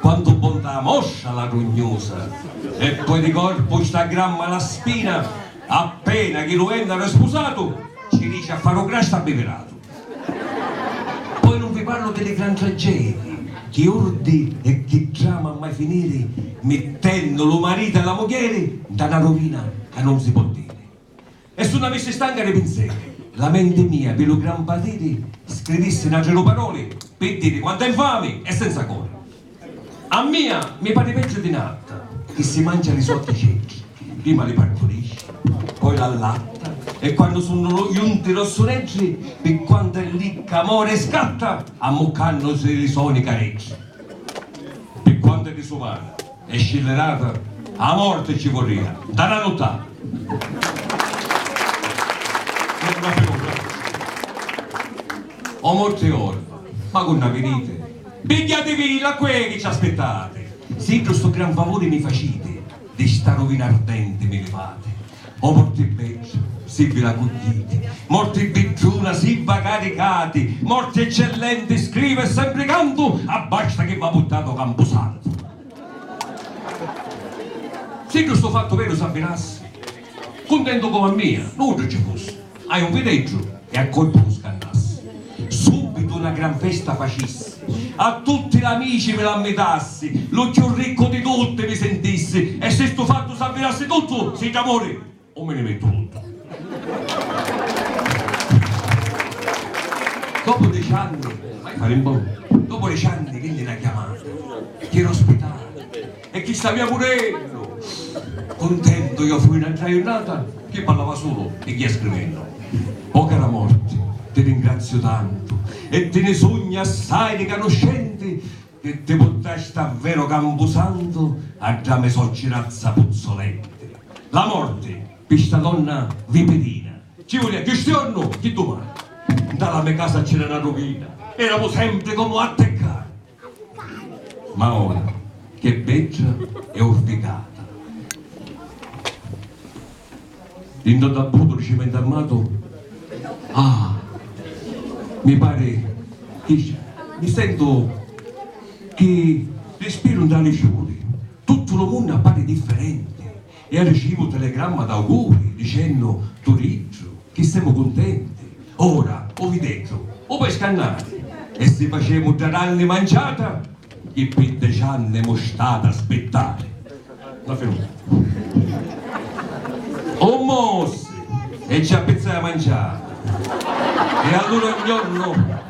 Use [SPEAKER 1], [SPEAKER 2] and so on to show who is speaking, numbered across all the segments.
[SPEAKER 1] Quantu bontà mostra la grugnusa! E poi di corpu sta gramma la spina, appena chi lu vènnaru è spusatu, ci dici a fari u grastu abbiviratu. Poi nun vi parlu di li gran tragedii, chi urdi e chi drama a mai finiri, mittennu lu maritu e la mugghieri nta na ruvina ca nun si pò diri. E su n'avissi stanca di pinseri. La menti mia pi lu gran patiri scrivissi n'atri du paroli pi diri quantu è nfami e senza cori. A mia mi pari peggiu di n'atta chi si mancia li so diceddi, prima li parturisci, poi l'allatta e quannu sunnu lu junti rossureddi pi quantu è licca mori e scatta ammuccannusi li so nicareddi. Pi quantu è disumana. E scivirata a morti ci vurria, nta na nuttata. O morti orva, ma cu nna viniti? Pigghiativi la quei chi ci aspittati. Siddu stu gran favuri mi faciti, di sta ruvina ardenti mi livati. O morti bedda, si vi la cugghiiti, morti bidduna, si va caricati, morti eccellenti, scrivu e sempri cantu, abbasta chi va puttatu o campusantu. Siddu stu fattu veru s'avvinassi, cuntentu comu a mia, nuddu ci fussi. A un vileggiu e a colpi lu scannassi, subbitu na gran festa facissi, a tutti l'amici vi l'ammitassi, lu cchiù riccu di tutti vi sintissi, e si stu fattu s'avvirassi tuttu, si d'amuri un mi ni mettu luttu. Dopu deci anni, mai fari mbonnu, dopu deci anni vinni na chiamata, chi era ospitata. E chi stavia pur'eddu. Cuntentu iò fui n'atra jurnata chi parlava sulu e ghia scrivennu. O cara morti, ti ringraziu tantu e ti ni sugnu assai ricanuscenti chi ti purtasti a veru campusantu a dda me socirazza puzzolenti. La morti, pi sta donna vipirina, ci vulia cchiù stiornu chi dumani. Nta la me casa c'era na ruvina, eramu sempri comu atteccati. Ma ora ch'è beggia e urticata. Dinto a tabbutu di cimentu armatu ah! mi pari chi mi sentu chi rispiru ntra li ciuri. Tuttu lu munnu appari differenti. E arricivu telegramma d'auguri, dicennu, Turiddu, chi semu cuntenti! Ora, o videddu, u pescannari! E si facemu dda ranni manciata, chi pi deci anni emu stati a spittari! La finunzia. U mossi, e ci appizzai a manciata! E allura un jornu.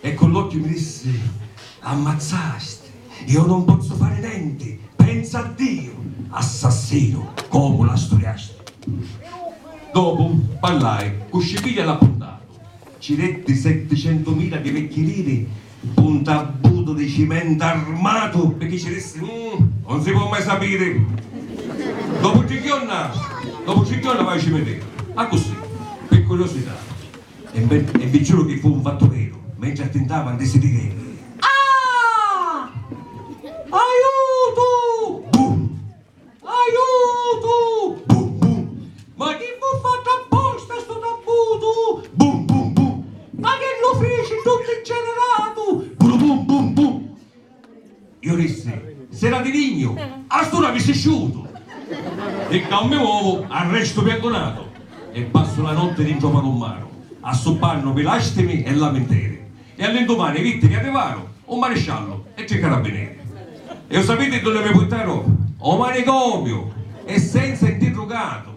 [SPEAKER 1] E cu l'occhi mi dissi, L'ammazzasti! Io non pozzu fari nenti! Pensa a Diu! Assassinu! Comu la sturiasti? Dopu parlai cu Scipiglia l'appuntatu, ci detti setticentumila di vecchi liri p'un ntabbutu di cimenta armatu pirchì ci dissi, Uhm, non si po' mai sapiri! Dopu tri jorna, dopu tri jorna vaiu cimiteru, accussì, pi curiosità. E vi giuru chi fu un fattureru, mentri attintava ndi si dideru. Ah! Aiutu! Bum! Aiutu! Bum bum! Ma chi fu fattu apposta stu tabbutu? Bum bum bum! Ma chi lu fici tuttu inceneratu? Buru bum bum bum! Iu dissi, S'era di lignu, a st'ura avissi sciutu! Ficca un mi uovu a restu piangunatu e passu la notti dintra u palummaru, assuppannu pi lastimi e laminteri. E all'indumani vitti chi arrivaru u marisciallu e tri carabbineri. E u sapiti dunni mi purtaru? O manicomiu! E senza interrugatu!